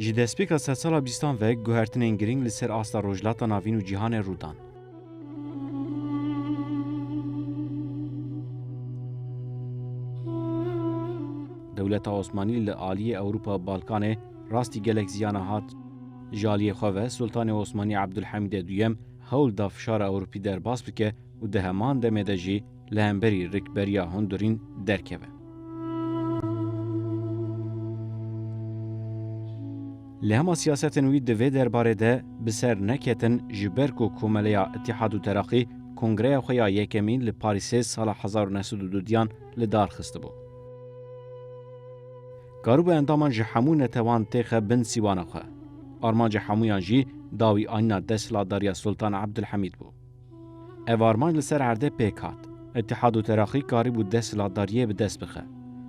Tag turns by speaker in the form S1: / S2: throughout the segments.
S1: Ji destpêka sedsala bîstan ve guhertinên girîng li ser asta Rojhilata Navîn û cîhanê rû dan. Dewleta Osmanî li aliyê Ewropa Balkanê Rastî gelek ziyana hat. Ji aliyê xwe ve Sultanê Osmanî Ebdulhemîdê Duyem hewl da fişara Ewropî derbas bike û di heman demê de jî li hemberî rikberiya hundirîn derkeve. Lê hema siyasetên wî di vê derbarê de bi ser neketin ji ber ku komeleya Îtîhad û Teraqî kongreya xwe ya yekemîn li Parîsê sala hezar û neh sed û du diyan li dar xistibû. Karûbe endaman ji hemû netewan têxe bin sîwana xwe. Armanca hemûyan jî dawî anîna desthilatdariya Sultan Ebdulhemîd bû. Ev armanc li ser erdê pêk hat. Îtîhad û Teraxî karîbû desthilatdariyê bi dest bixe.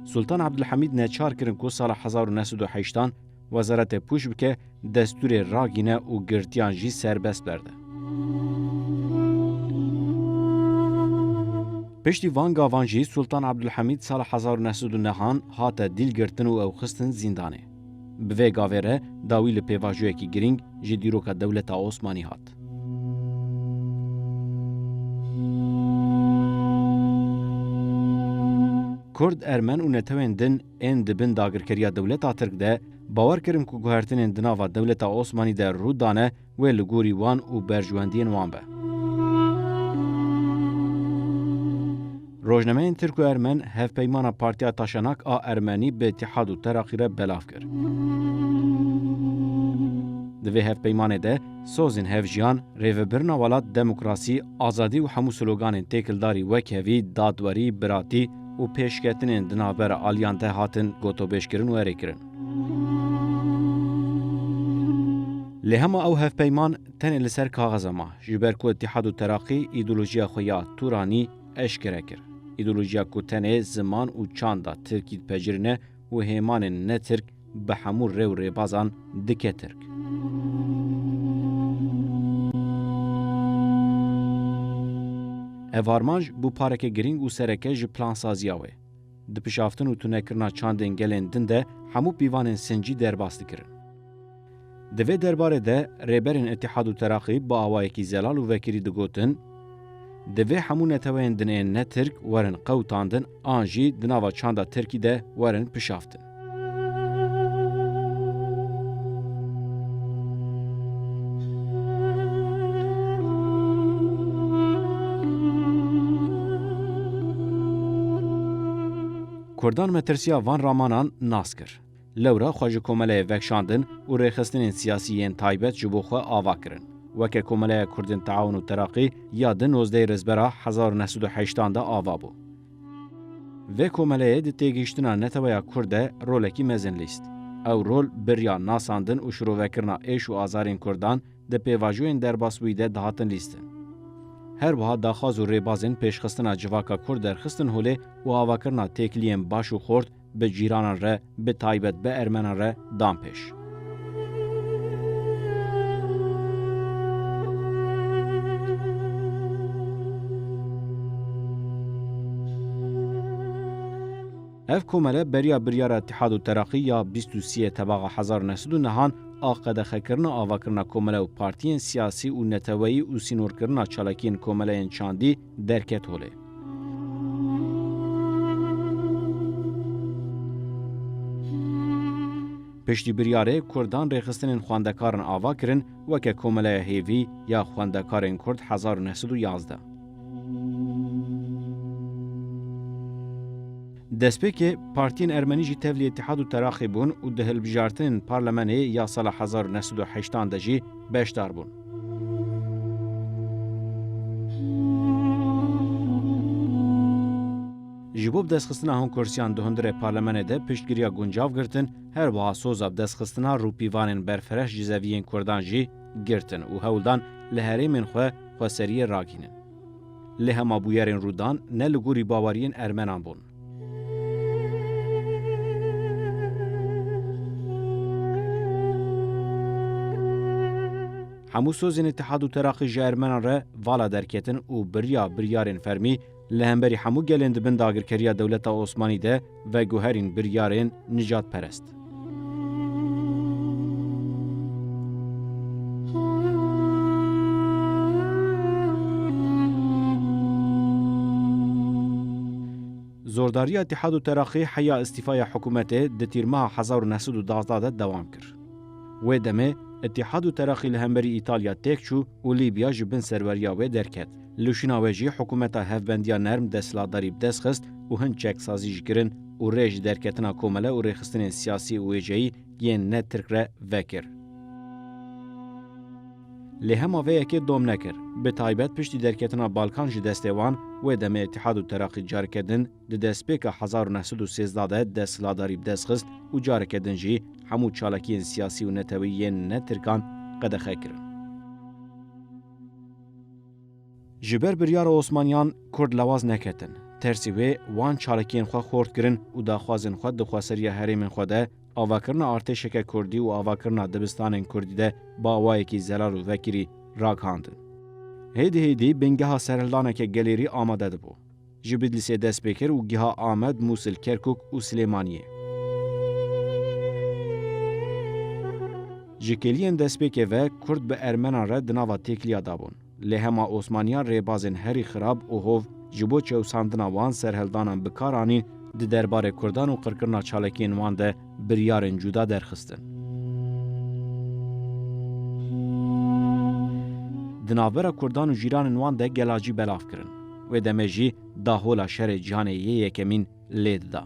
S1: Sultan Ebdulhemîd neçar kirin ku sala hezar û neh sed û heştan wezaretê pûç bike Destûrê ragîne û girtiyan jî serbest berde. Piştî van gavan jî Sultan Abdulhamîd sala hezar û neh sed û nehan hate dîl girtin û ew xistin zîndanê. Bi vê gavê re dawî li pêvajoyekî girîng ji dîroka dewleta Osmanî hat. Kurd, Ermen û netewên din Ên di bin dagirkeriya dewleta Tirk de bawer kirin ku guhertinên di nava dewleta Osmanî de rû dane wê li gorî wan û berjwendiyên wan be. Rojnameyên Tirk û Ermen hevpeymana Partiya Taşenak a Ermenî bi Îtîhad û Teraqî re belav kir. Di vê hevpeymanê de sozên hevjiyan, rêvebirina welat, demokrasî, azadî û hemû sloganên têkildarî wek hevî, dadwerî, biratî, û pêşketinên di navbera aliyan de hatin gotobêjkirin û erêkirin. Lê hema ew hevpeyman tenê li ser kaxiza ma, ji ber ku Îtîhad û Teraqî îdeolojiya xwe ya Turanî eşkere kir. Îdeolojiya ku tenê ziman û çanda Tirkî dipejirîne û hêmanên ne Tirk bi hemû rê û rêbazan dike tirk. Ev armanc bû pareke girîng û sereke ji plansaziya wê. Dipişaftin û tunekirina çandên gelên din de hemû pîvanên sincî derbas dikirin. Di vê derbarê de rêberên Îtîhad û Teraqî bi awayekî zelal û vekirî digotin, Divê hemû neteweyên din ên ne Tirk werin qewtandin an jî di nava çanda Tirkî de werin pişaftin. Kurdan metirsiya van ramanan nas kir. Lewra xwe ji komeleyê vekşandin û rêxistinên siyasî yên taybet ji bo xwe ava kirin. Weke Komeleya Kurdên Teawun û Teraqî ya di nozdeyê Rizbera hezar û neh sed û heştan de ava bû. Vê komeleyê di têgihiştina neteweya Kurd de rolekî mezin lîst. Ew rol birya nasandin û şirovekirina êş û azarên Kurdan di pêvajoyên derbasbûyî de dihatin lîstin. Her wiha daxwaz û rêbazên pêşxistina civaka Kurd derxistin holê û avakirina têkiliyên baş û xort, bi cîranan re bi taybet bi ermenan re dan pêş. Ev komele beriya biryara Îtîhad û Teraqî ya bîst û sîyê tebaxa hezar û neh sed û nehan a qedexekirina avakirina komele û partiyên siyasî û neteweyî û sînorkirina çalakiyên komeleyên çandî, derket holê. Piştî biryarê Kurdan rêxistinên xwendekarin ava kirin weke Komeleya Hêvî ya Xwendekarên Kurd hezar û neh sed û yazdeh. Destpêkê partiyên ermenî jî tevlî Îtîhad û Teraqî bûn û di hilbijartinên parlemenê ya sala hezar û neh sed û heştan de jî beşdar bûn. Ji bo bidestxistina honkursiyan di hundirê parlemenê de piştgiriya guncav girtin, her wiha soza bidestxistina rûpîvanên berfireş ji zeviyên kurdan jî girtin û hewl dan li herêmên xwe xweseriyê ragihînin. Lê hema bûyerên rû dan ne li gorî baweriyên ermenan bûn. Hemû sozên Îtihad û Teraqî ji ermenan re vala derketin û biriya biryarên fermî li hemberî hemû gelên di bin dagirkeriya dewleta Osmanî de veguherîn biryarên nîcadperest. Zordariya Îtîhad û Teraqî heya îstîfaya hikûmetê di Tîrmeha hezar û neh sed û duwazdeh de dewam kir. Wê demê Îtîhad û Teraqî li hemberî Îtalya têk çû û Lîbya ji bin serweriya wê derket. Li şîna wê jî hikûmeta hevbendiya nerm desthilatdarî bi dest xist û hin çeksazî jî kirin û rê ji derketina komele û rêxistinên siyasî û wêjeyî yên ne tirk re vekir. Lê hema vê yekê dom nekir. Bi taybet piştî derketina Balkan ji destê wan, wê demê Îtîhad û Teraqî careke din di destpêka hezar û neh sed û sêzdeh de desthilatdarî bi dest xist û careke din jî hemû çalakiyên siyasî û netewî yên ne tirkan qedexe kirin. Ji ber biryara Osmaniyan Kurd lewaz neketin. Tersî wê wan çalakiyên xwe xort kirin û daxwazên xwe di xweseriya herêmên xwe de, avakirina artêşeke Kurdî û avakirina dibistanên Kurdî de bi awayekî zelal û vekirî ragihandin. Hêdî hêdî bingeha serhildaneke gelêrî amade dibû. Ji Bidlisê dest pê kir û giha Amed, Mûsil, Kerkûk û Silêmaniyê. Ji kêliyên destpêkê ve Kurd bi Ermenan re di nava têkiliya de bûn. Lê hema Osmaniyan rêbazên herî xirab û hov ji bo çewsandina wan serheldanan bi kar anîn di derbarê Kurdan û qirkirina çalakiyên wan de biryarên cuda derxistin. Di navbera Kurdan û jîranên wan de gela jî belav kirin. Wê demê jî dahola şerê cîhanê yê yekemîn lê dida.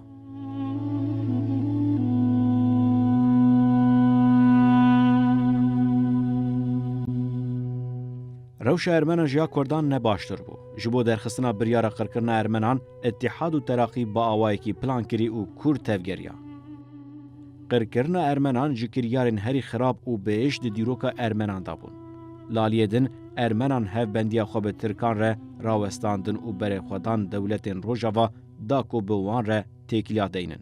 S1: Rewşa ermenan ji ya kurdan ne baştir bû. Ji bo derxistina biryara qirkirina ermenan Îttîhad û Teraqî bi awayekî plan kirî û kûr tevgeriya. Qirkirina ermenan ji kiryarên herî xirab û bêş di dîroka ermenan de bûn. Laliyê din ermenan hevbendiya xwe bi tirkan re rawestandin û berê xwe dan dewletên rojava da ku bi wan re têkiliya deynin.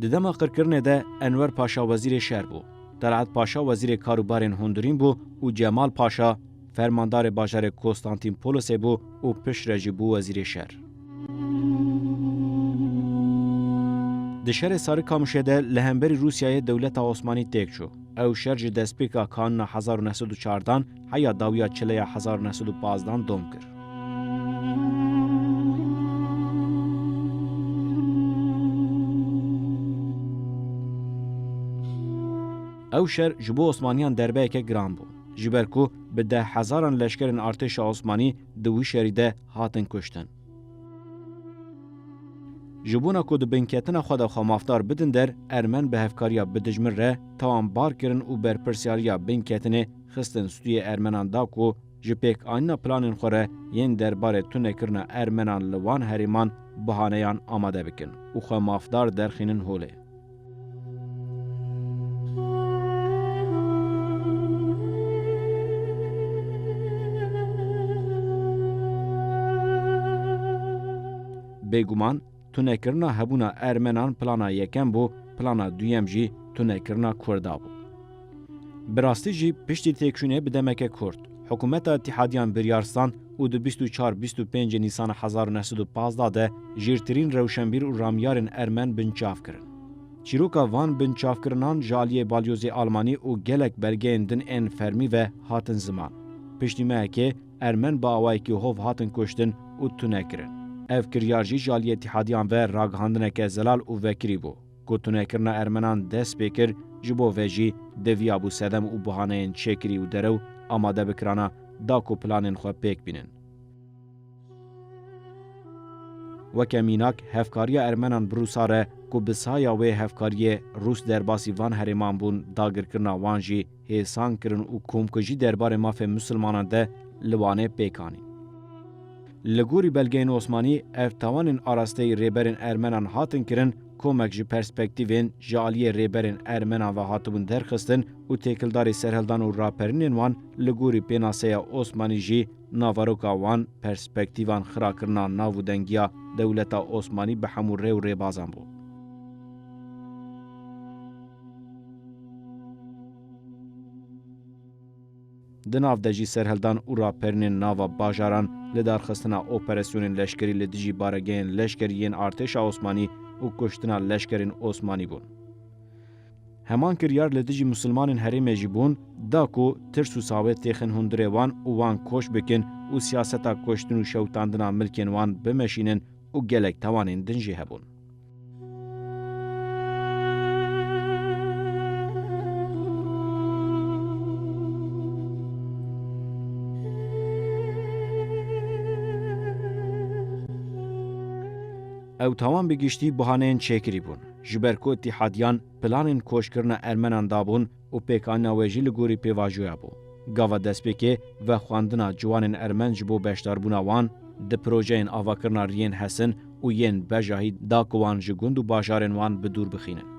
S1: Di dema qirkirinê de Enwer Paşa wezîrê şer bû, Telat Paşa wezîrê kar û barên hundirîn bû û Cemal Paşa fermandarê bajarê Kostantînpolosê bû û piştre jî bû wezîrê şer. Di şerê Sarikamişê de li hemberî Rûsyayê dewleta Osmanî têk çû. Ew şer ji destpêka kanûna hezar û neh sed û çardan heya dawiya çileya hezar û neh sed û pazdan dom kir. Ew şer ji bo Osmaniyan derbeyeke giran bû. Ji ber ku bi deh hezaran leşkerên artêşa Osmanî di wî şerî de hatin kuştin. Ji bona ku di binketina xwe de xwe mafdar bidin der, ermen bi hevkariya bi dijmin re tawan bar kirin û berpirsyariya binketinê xistin stûyê ermenan da ku ji pêkanîna planên xwe re yên derbarê tunekirina ermenan li wan herêman bihaneyan amade bikin û xwe mafdar derxînin holê. Bêguman tunekirina hebûna Ermenan plana yekem bû, plana duyem jî tunekirina Kurda bû. Bi rastî jî piştî têkşûnê bi demeke kurt, hikûmeta îtîhadiyan biryar stand û di bîst û çar bîst û pêncê Nîsana hezar û neh sed û pazdeh de jîrtirîn rewşenbîr û ramyarên ermen binçav kirin. Çîroka van binçavkirinan ji aliyê balyozê almanî û gelek belgeyên din ên fermî ve hatin ziman. Piştî mehekê ermen bi awayekî hov hatin kuştin û tune kirin. Ev kiryar jî ji aliyê îtîhadiyan ve ragihandineke zelal û vekirî bû. Ku tunekirina ermenan dest pê kir, ji bo ve jî deviyabû sedem û bihaneyên çêkirî û derew amade bikirana da ku planên xwe pêk bînin. Weke mînak hevkariya ermenan bi Rûsa re ku bi saya wê hevkariyê Rûs derbasî van herêman bûn dagirkirina wan jî, hêsan kirin û komkujî derbarê mafê misilmanan de li Wanê pêk anîn. Li gorî belgeyên Osmanî ev tawanên arasteyî rêberên ermenan hatin kirin komek ji perspektîvên ji aliyê rêberên ermenan ve hatibûn derxistin û têkildarî serhildan û raperinên wan li gorî pênaseya Osmanî jî naveroka wan perspektîvan xirakirina navûdengiya dewleta Osmanî bi hemû rê û rêbazan bû. Di nav de jî serhildan û raperinên nava bajaran, lidarxistina operasyonên leşkerî li dijî baregehên leşker yên artêşa Osmanî û kuştina leşkerên Osmanî bûn. Heman kiryar li dijî Musilmanên herêmê jî bûn, da ku tirs û sawê têxin hundirê wan û wan koç bikin û siyaseta kuştin û şewitandina milkên wan bimeşînin û gelek tawanên din jî hebûn. Ew tawan bi giştî buhaneyên çêkirî bûn. Ji ber ku îtîhadiyan planên koçkirina ermenan dabûn, û pêkanîna wê jî li gorî pêvajoya bû. Gava destpêkê, vexwendina ciwanên ermen ji bo beşdarbûna wan di projeyên avakirina riyên hesin û yên bejahî da ku wan ji gund û bajarên wan bi dûr bixînin.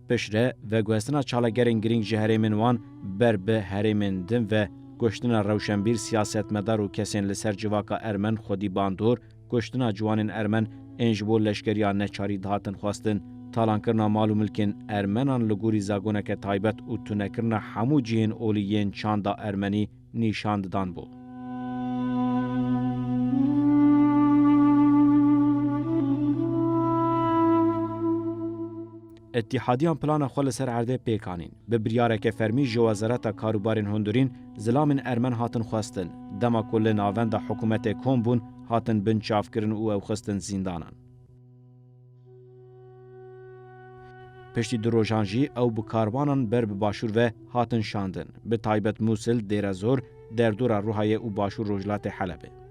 S1: Piştre, veguhestina çalagerên girîng ji herêmên wan ber bi herêmên din ve kuştina rewşenbîr, siyasetmedar û kesên li ser civaka ermen xwedî bandor, kuştina ciwanên Ermen ên ji bo leşkeriya neçarî dihatin xwestin, talankirina mal û milkên Ermenan li gorî zagoneke taybet û tunekirina hemû cihên olî yên çanda Ermenî nîşan didan bû. Îtîhadiyan plana xwe li ser erdê pêk anîn. Bi biryareke fermî ji Wezareta Karûbarên Hundurîn zilamên ermen hatin xwestin, dema ku li navenda hikûmetê kom bûn hatin binçavkirin û ew xistin zîndanan. Piştî du rojan jî ew bi karwanan ber bi başûr ve hatin şandin, bi taybet Mûsil, Dêrezor, derdora Rûhayê û başûr rojhilatê Helebê.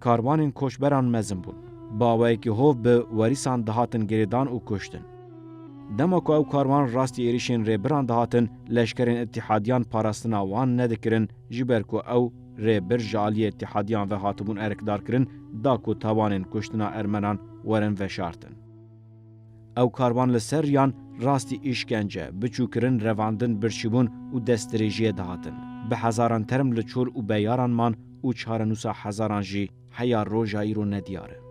S1: Karwanên koçberan mezin bûn. Baweyekî hov bi werîsan dihatin girêdan û kuştin. Dema ku ew karwan rastî êrîşên Rêbiran dihatin, leşkerên îtîhadiyan parastina wan nedikirin ji ber ku ew, Rêbir, ji aliyê îtîhadiyan ve hatibûn erkdarkirin da ku tawanên kuştina ermenan werin veşartin. Ew karvan li ser riyan rastî îşkence, biçûkirin, revandin, birçîbûn û destdirêjiyê dihatin. Bi hezaran term li çor û beyaran man û çarenûsa hezaran jî heya roja îro nediyar e.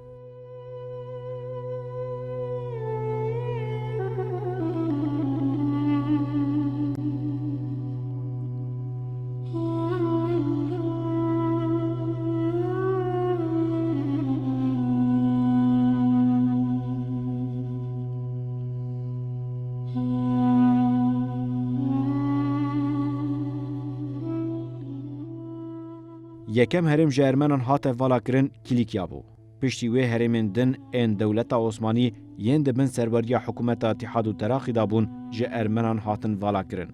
S1: Yekem herêm ji Ermenan hate valakirin Kîlîkya bû. Piştî wê herêmên din ên dewleta Osmanî yên di bin serweriya hikûmeta Îtîhad û Teraqî de bûn ji Ermenan hatin valakirin.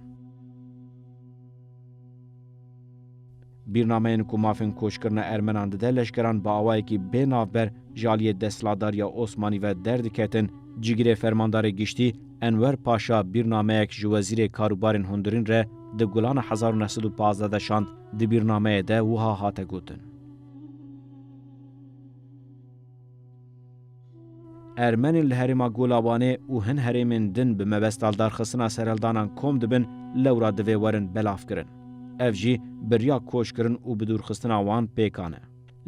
S1: Bîrnameyên ku mafên koçkirina ermenan dide leşkeran bi awayekî bê navber ji aliyê desthilatdariya Osmanî ve derdiketin. Cîgirê Fermandarê Giştî Enwer Paşa bîrnameyek ji Wezîrê Karûbarên Hundirîn re di Gulana hezar û neh sed û pazdeh de şand. Di bîrnameyê de wiha hate gotin. Ermenên li herêma Golabanê û hin herêmên din bi mebesta lidarxistina serhildanan kom dibin lewra divê werin belavkirin. Ev jî birya koçkirin û bidûrxistina wan pêkan e.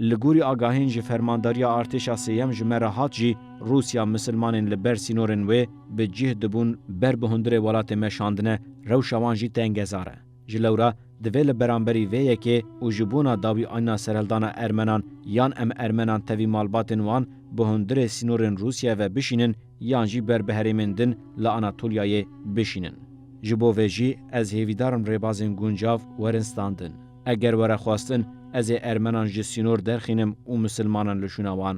S1: Li gorî agahiyên ji fermandariya artêşa sêyem ji me re hat jî Rûsya misilmanên li ber sînorên wê bi cih dibûn ber bi hundirê welatê me şandine rewşa wan jî tengezar e. Ji lewra divê li beramberî vê yekê û ji bona dawî anîna serhildana ermenan yan em ermenan tevî malbatên wan bi hundirê sînorên Rûsyayê ve bişînin yan jî ber bi herêmên din li Anatolyayê bişînin. Ji bo vê jî ez hêvîdar im rêbazên guncav werin standin. Eger were xwestin, ez ê ermenan ji sînor derxînim û misilmanan li şûna wan.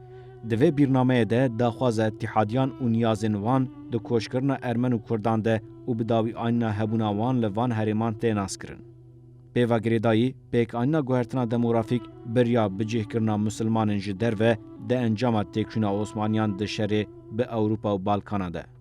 S1: Di vê bîrnameyê de daxwaza îtîhadiyan û niyazên wan di koçkirina ermen û kurdan de û bi dawî anîna hebûna wan li van herêman tê naskirin. Pêva girêdayî, pêkanîna guhertina demografîk biriya bicihkirina misilmanên ji derve di encama têkçûna Osmaniyan di şerê bi Ewropa û Balkana de.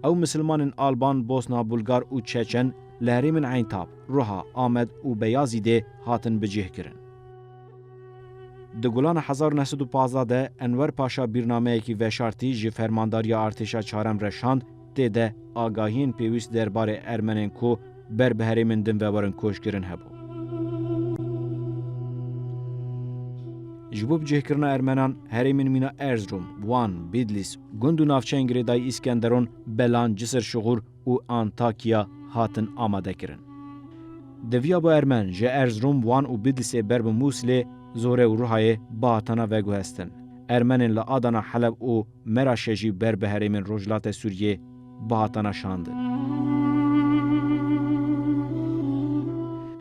S1: Ew misilmanên Alban, Bosna, Bulgar û Çeçen li herêmên Eyntab, Ruha, Amed û Beyazîdê hatin bicihkirin. Di Gulana hezar û neh sed û pazdeh de Enwer Paşa bîrnameyekî veşartî ji Fermandariya Artêşa Çarem re şand, tê de agahiyên pêwîst der barê ermenên ku ber bi herêmên din ve werin koçkirin hebû. Ji bo bicihkirina ermenan herêmên mîna Erzurum, Wan, Bîdlîs, gund û navçeyên girêdayî Îskenderon, Belan, Cisir, Şixûr, û Antakya hatin amadekirin. Deviya bi ermen ji Erzrom, Wan û Bidisê ber bi Mûsilê, Zore û Ruhayê bihatana veguhestin. Ermenên li Adana, Heleb û Meraşê jî ber bi herêmên Rojhilate Sûriyê bihatana şandin.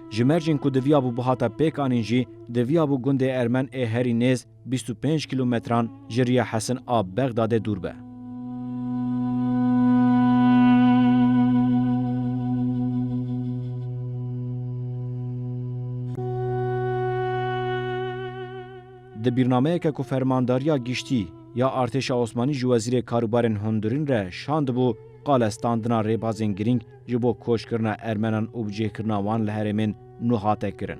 S1: Ji mercên ku diviyabû bihata pêkanîn jî, diviyabû gundê ermen ê herî nêz, bîst û pênc kîlometran ji riya Hesin a Bexdadê dûr be. Di bîrnameyeke ku Fermandariya Giştî ya Artêşa Osmanî ji Wezîrê Karûbarên Hundirîn re şandibû, qale standina rêbazên girîng ji bo koçkirina Ermenan û bicihkirina wan li herêmên nû hate kirin.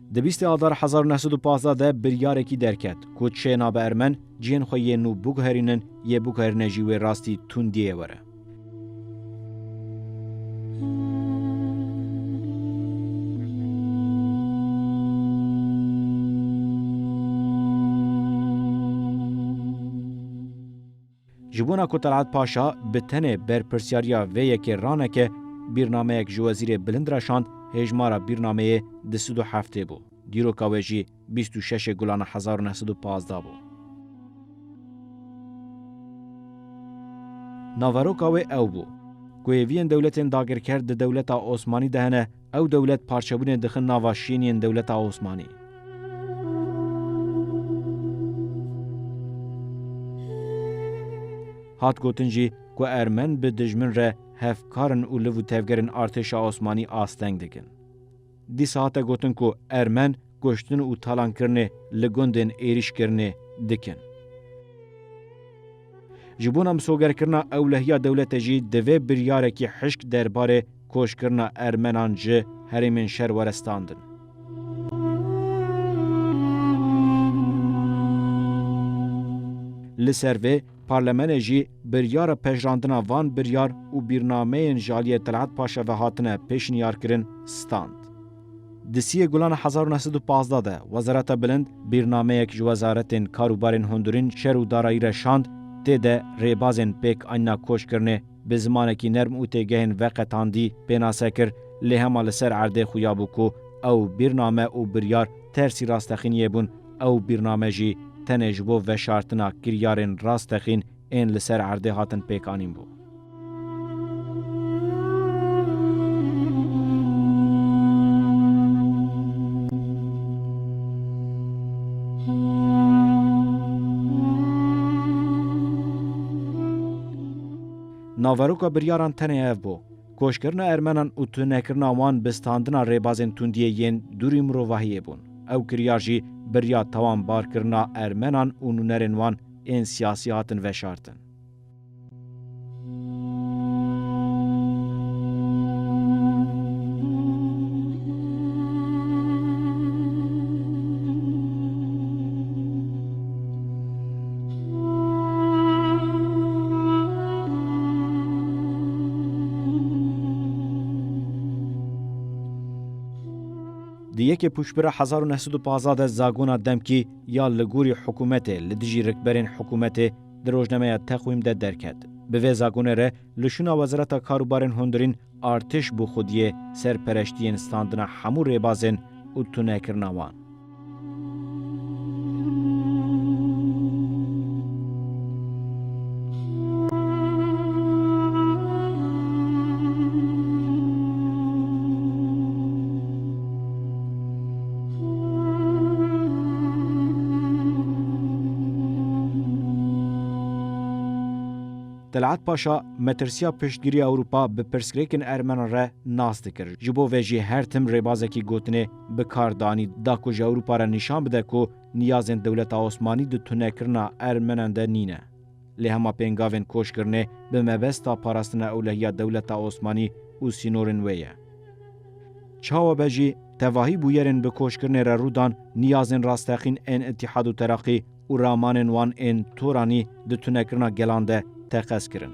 S1: Di bîstê adar hezar û neh sed û pazdeh de biryarekî derket ku çê nabe ermen cihên xwe yên nû biguherînin, yê biguherîne jî wê rastî tundiyê ye were. Ji bona ku Talat Paşa bi tenê berpirsyariya vê yekê raneke, bîrnameyek ji wezîrê bilind re şand, hêjmara bîrnameyê di sid û heftê bû, dîroka wê jî bîst û şeşê Gulana hezar û neh sed û pazdeh bû. Naveroka wê ew bû, ku hêviyên dewletên dagirker di dewleta Osmanî de hene, Ew dewlet parçebûnê dixin nava şîn yên dewleta Osmanî. Hat gotin jî ku ermen bi dijmin re hevkar in û liv û tevgerên artêşa Osmanî asteng dikin. Dîsa hate gotin ku ermen, kuştin û talankirinê li gundên êrîşkirinê dikin. Ji bona misogerkirina ewlehiya dewlete jî divê biryarekî hişk derbarê koçkirina ermenan ji herêmên şer were standin. Li ser vê parlemenê jî biryara pejirandina van biryar û bîrnameyên ji aliyê Telhat Paşa ve hatine pêşniyarkirin stand. Di sî yê Gulana hezar û neh sed û pazdeh de Wezareta Bilind bîrnameyek ji Wezaretên Kar û Barên Hundurîn, Şer û Darayî re şand, tê de rêbazên pêk anîna koçkirinê bi zimanekî nerm û têgehên veqetandî pênase kir, lê hema li ser erdê xuya bû ku ew bîrname û biryar tersî rastexîniyê bûn, ew bîrname jî tenê ji bo veşartina kiryarên rastexîn ên li ser erdê hatin pêkanîn bû. Naveroka biryaran tenê ev bû, koçkirina ermenan û tunekirina wan bi standina rêbazên tundiyê yên dûrî mirovahiyê bûn. Ew kiryar jî birya tawan barkirina ermenan û nûnerên wan ên siyasî hatin veşartin. Di yekê pûçbira hezar û neh sed û pazdeh de zagona demkî, ya li gorî hikûmetê li dijî rikberên hikûmetê di rojnameya Teqwîm de derket. Bi vê zagonê re li şûna Wezareta Karûbarên Hundirîn artêş bû xwediyê serpereştiyên standina hemû rêbazên û tunekirina wan. Telat Paşa metirsiya piştgirî Ewropa bi pirsgirêkên Ermenan re nas dikir. Ji bo vê jî her tim rêbazekî gotinê bi kar danî da ku ji Ewropa re nîşan bide ku niyazên dewleta Osmanî di tunekirina Ermenan de nîne. Lê hema pêngavên koç kirinê bi mebesta parastina ewlehiya dewleta Osmanî û sînorên wê ye. Çawa be jî, tevahî bûyerên bi koç kirinê re rû dan, niyazên rasteqîn ên Îtîhad û Teraqî û ramanên wan ên Toranî di tunekirina gelan de teqez kirin.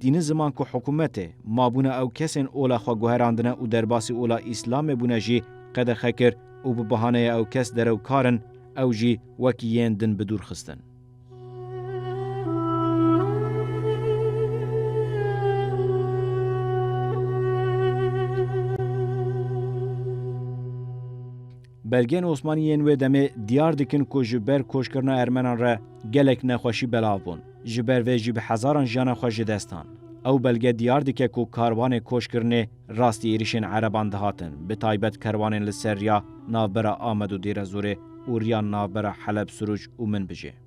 S1: Dîni ziman ku hikûmetê, mabûna ew kesên ola xwe guherandine û derbasî ola Îslamê bûne jî qedexe kir û bi bahaneya ew kes derew kar in, ew jî wekî yên din bi dûr xistin. Belgeyên Osmanî yên wê demê diyar dikin ku ji ber koçkirina Ermenan re gelek nexweşî belav bûn, ji ber vê jî bi hezaran jiyana xwe ji dest dan. Ew belge diyar dike ku karwanê koçkirinê rastî êrîşên ereban dihatin, bi taybet kerwanên li ser riya navbera Amed û Dêrezorê û riya navbera Heleb-Sûrûc û Minbicê.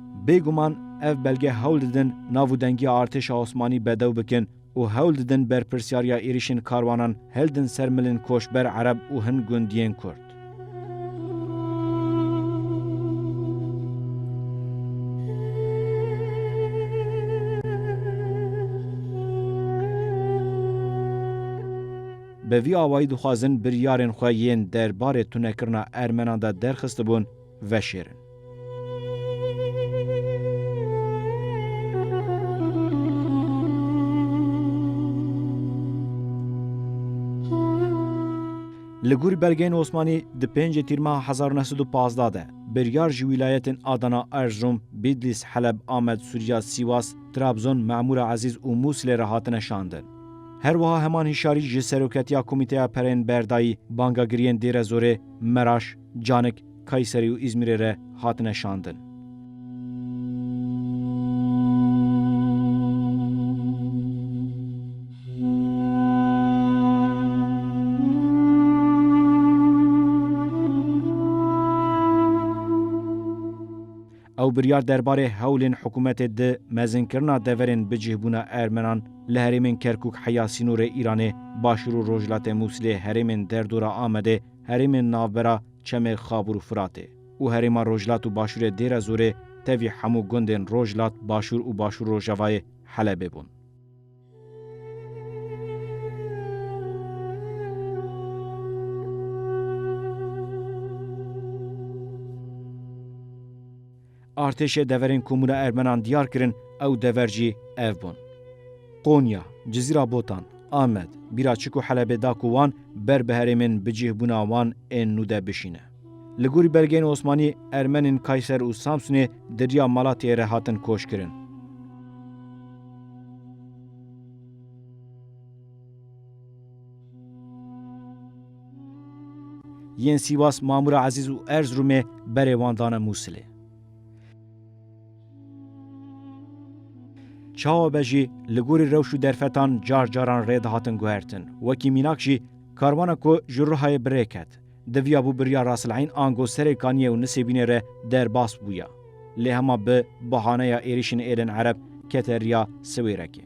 S1: Bêguman ev belge hewl didin nav û dengiya artêşa Osmanî bedew bikin û hewl didin berpirsyariya êrîşên karwanan hildin ser milên koçber ereb û hin gundiyên kurd. Bi vî awayî dixwazin biryarên xwe yên derbarê tunekirina ermenan de derxistibûn, veşêrin. Li gor belgeyên Osmanî di pêncê tîrma hezar neh sed û pazdeh de biryar ji wîlayetên Adana, Erzrom, Bîdlîs, Heleb, Amed, Sûrya, Sîwas, Trabzon, Memûra Ezîz û Mûsilê re hatine şandin. Her wiha heman hişyarî ji Seroketiya Komîteya Pereyên Berdayî, Bangagiriyên Dêrezorê, Meraş, Canik, Kayserî û Îzmîrê re hatine şandin. Ew biryar derbarê hewlên hikûmetê di mezinkirina deverên bicihbûna Ermenan li herêmên Kerkûk heya sînorê Îranê, Başûr û Rojhilatê Mûsilê, herêmên derdora Amedê, herêmên navbera çemê Xabûr û Firatê û herêma Rojhilat û Başûrê Dêrezorê tevî hemû gundên Rojhilat, Başûr û Başûr-Rojavayê Helebê bûn. Artêşê deverên Komûna Ermenan diyar kirin ew dever jî ev bûn. Konya, Cizîra Botan, Amed, bîra çik û Helebê da ku wan ber bi herêmên bi cih bûna wan ên nû de bişîne. Li gorî belgeyên Osmanî Ermenên Kayser û Samsunê di riya Malatyayê re hatin koç kirin. Yên Sîwas Mamûra Ezîz û Erzirûmê berê wan dane Mûsilê. Çawa be jî li gorî rewş û derfetan car caran rê dihatin guhertin. Wekî mînak jî karwana ku ji Rihayê bi rê ket, diviya bû biriya Rasil'eyn ango serê Kaniyê û Nisêbînê re derbas bûya. Lê hema bi bahaneya êrîşên êrên Ereb kete riya Siwêrekê.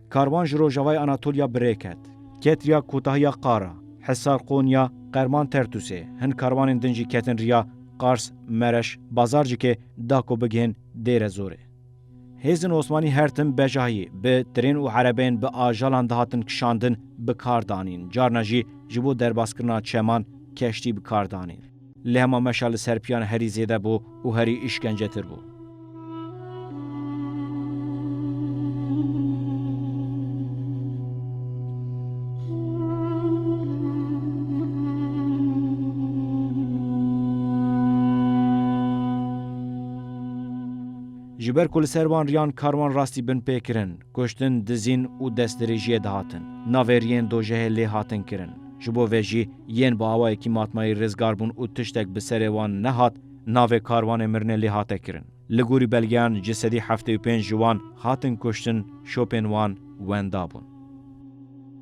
S1: Karwan ji rojavayê Anatolya bi rê ket. Ket riya kotahiya Qara, Hisar, Qonya, Qerman, Tertusê. Hin karwanên din jî ketin riya Qars, Mereş, Bazarcikê, Dako bigihên Dêrezorê. Hêzin Osmanî her tim bejahî bi tirên û erebeyên bi ajalan dihatin kişandin bi kar danîn, carna jî ji bo derbaskirina çeman keştî bi kar danîn. Lê hema meşa li ser piyan herî zêde bû û herî îşkencetir bû. Ji ber ku li ser wan riyan karwan rastî bin pê kirin. Kuştin, dizîn û destdirêjiyê dihatin. Navêriyên dojehê lê hatin kirin. Ji bo vê jî yên bi awayekî matmayî rizgar bûn û tiştek bi serê wan nehat, navê karwanê mirinê lê hate kirin. Li gorî belgeyan ji sedî heftê û pênc ji wan hatin kuştin, şopên wan wenda bûn.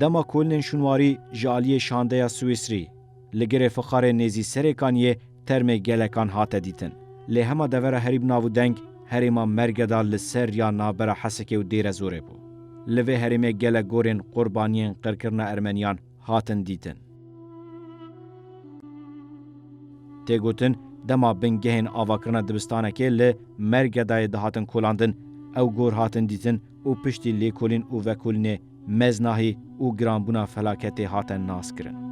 S1: Dema kolnên şûnwarî ji aliyê şandeya Swîsrî li girê fixarê nêzî serê kaniyê termê gelekan hate dîtin. Lê hema devera herî bi nav û deng herêma Mergeda li ser riya navbera Hesekê û Dêrezorê bû. Li vê herêmê gelek gorên qurbaniyên qirkirina Ermeniyan hatin dîtin. Tê gotin dema bingehên avakirina dibistanekê li Mergedayê dihatin kolandin, ew gor hatin dîtin û piştî lêkolîn û vekolînê meznahî û giranbûna felaketê hate naskirin.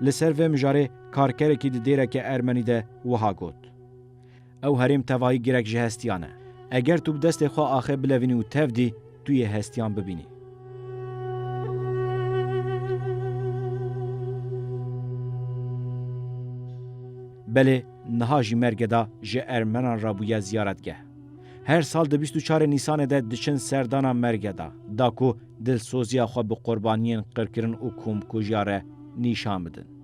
S1: Li ser vê mijarê karkerekî di dêreke ermenî de wiha got, Ew herêm tevayî girek ji hestiyan e. Eger tu bi destê xwe axe bilevînî û tev dî, tu yê hestiyan bibînî. Belê niha jî Mergeda ji ermenan re bûye ziyaretgeh. Her sal di bîst û çarê Nîsanê de diçin serdana Mergeda da ku dilsoziya xwe bi qurbaniyên qirkirin û komkujiya re nîşan bidin.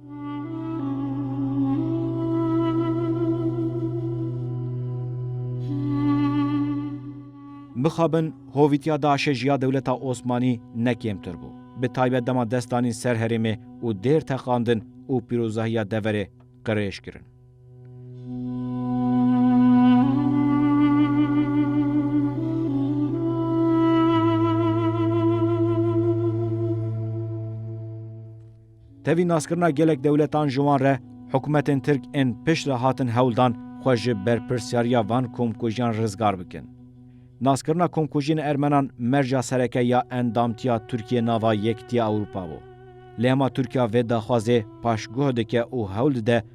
S1: Mixabin hovîtiya DAIŞ'ê ji ya dewleta Osmanî ne kêmtir bû. Bi taybet dema dest danîn ser herêmê û dêr teqandin û pîrozahiya deverê qirêj kirin. Tevî naskirina gelek dewletan ji wan re hikûmetên Tirk ên pişt re hatin hewl dan xwe ji berpirsyariya van komkujiyan rizgar bikin. Naskirina komkujiyên ermenan merca sereke ya endamtiya Tirkiyê nava Yekîtiya Ewropa bû. Lê hema Tirkiya vê daxwazê paşguh dike û hewl dide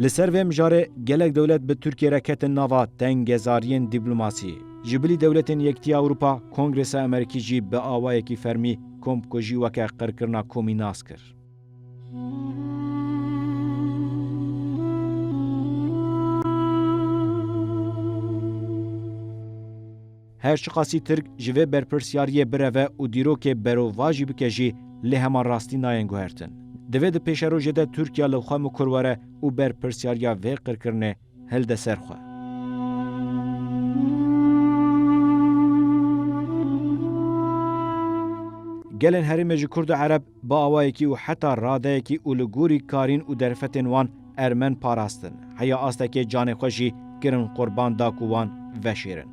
S1: Li ser vê mijarê gelek dewlet bi Tirkiye re ketin nava tengezariyên dîplomasî. Ji bilî dewletên Yekîtiya Ewropa, Kongresa Amerîkî jî bi awayekî fermî komkujî weke qirkirina komî nas kir. Her çiqasî Tirk ji vê berpirsyariyê bireve û dîrokê bero va jî bike jî lê hema rastî nayên guhertin. Divê di pêşerojê de Tirkiya li xwe mikur were û berpirsyariya vê qirkirinê hilde ser xwe. Gelên herêmê ji Kurd û Ereb Bi awayekî û heta radeyekî û li gorî karîn û derfetên wan ermen parastin, heya astekê canê xwe jî kirin qurban da ku wan veşêrin.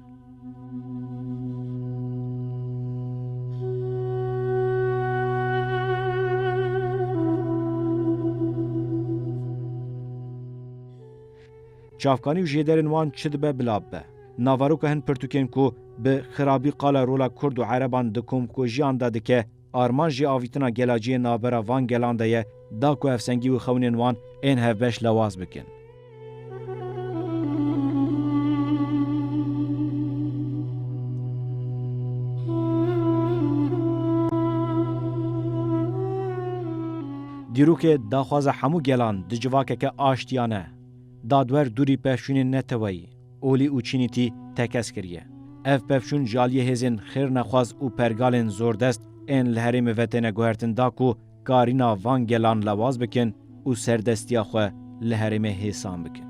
S1: Çavkanî û jêderên wan çi dibe bila bibe. Naveroka hin pirtûkên ku bi xirabî qala rola kurd û ereban di komkujiyan de dike, Armanc jî avîtina gelaciyên navbera van gelan de ye da ku hevsengî û xewnên wan ên hevbeş lewaz bikin. Dîrokê daxwaza hemû gelan di civakeke aştiyane, dadwer dûrî pevçûnên neteweyî, Olî û Çînîtî tekez kiriye. Ev pevçûn ji aliyê hêzên xêrnexwaz û pergalên zordest ên li herêmê ve têne guhertin da ku karîna van gelan lewaz bikin û serdestiya xwe li herêmê hêsan bikin.